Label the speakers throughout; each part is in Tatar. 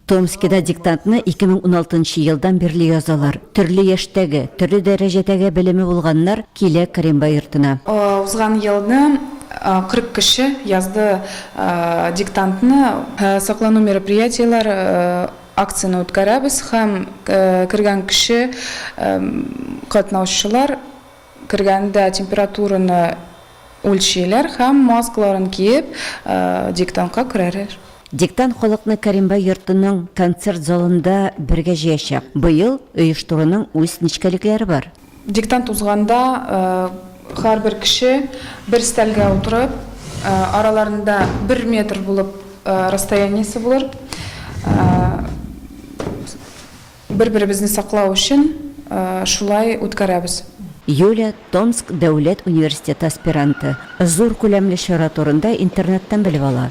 Speaker 1: Томскида диктантны 2016 елдан бирле язалар. Төрле яшьтәге, төрле дәрәҗәдәге белеме булганнар килә Кремба йортына. Узган елны
Speaker 2: 40 кеше язды диктантны. Саклану мероприятиеләр Акцияне үткәрәбез һәм кергән кеше, катнаучылар кергәндә температураны үлчиләр һәм маскаларын киеп диктантка керәләр. Диктант халыкны
Speaker 1: Кәримбай йортының концерт залында бергә җыячак. Быел оештыруның үз нечкәлекләре бар. Диктант узганда
Speaker 2: һәрбер кеше бер өстәлгә утырып, араларында бер метр булып расстояниесе булыр, бер-беребезне саклау өчен шулай үткәрәбез. Юля,
Speaker 1: Томск дәүләт университеты аспиранты, зур күләмле чара турында интернеттан белеп ала.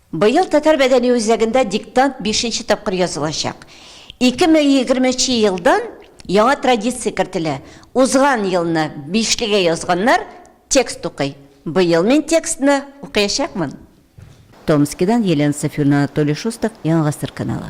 Speaker 3: Быел Татар
Speaker 1: мәдәни үзәгендә диктант бишенче тапкыр язылачак. 2020 нче елдан яңа традиция кертелә, узган елны бишлегә язганнар текст укый. Быел мин текстны укыячакмын. Томскидан Елена Сафиуллина Анатолий Шустов, Яңа гасыр каналы.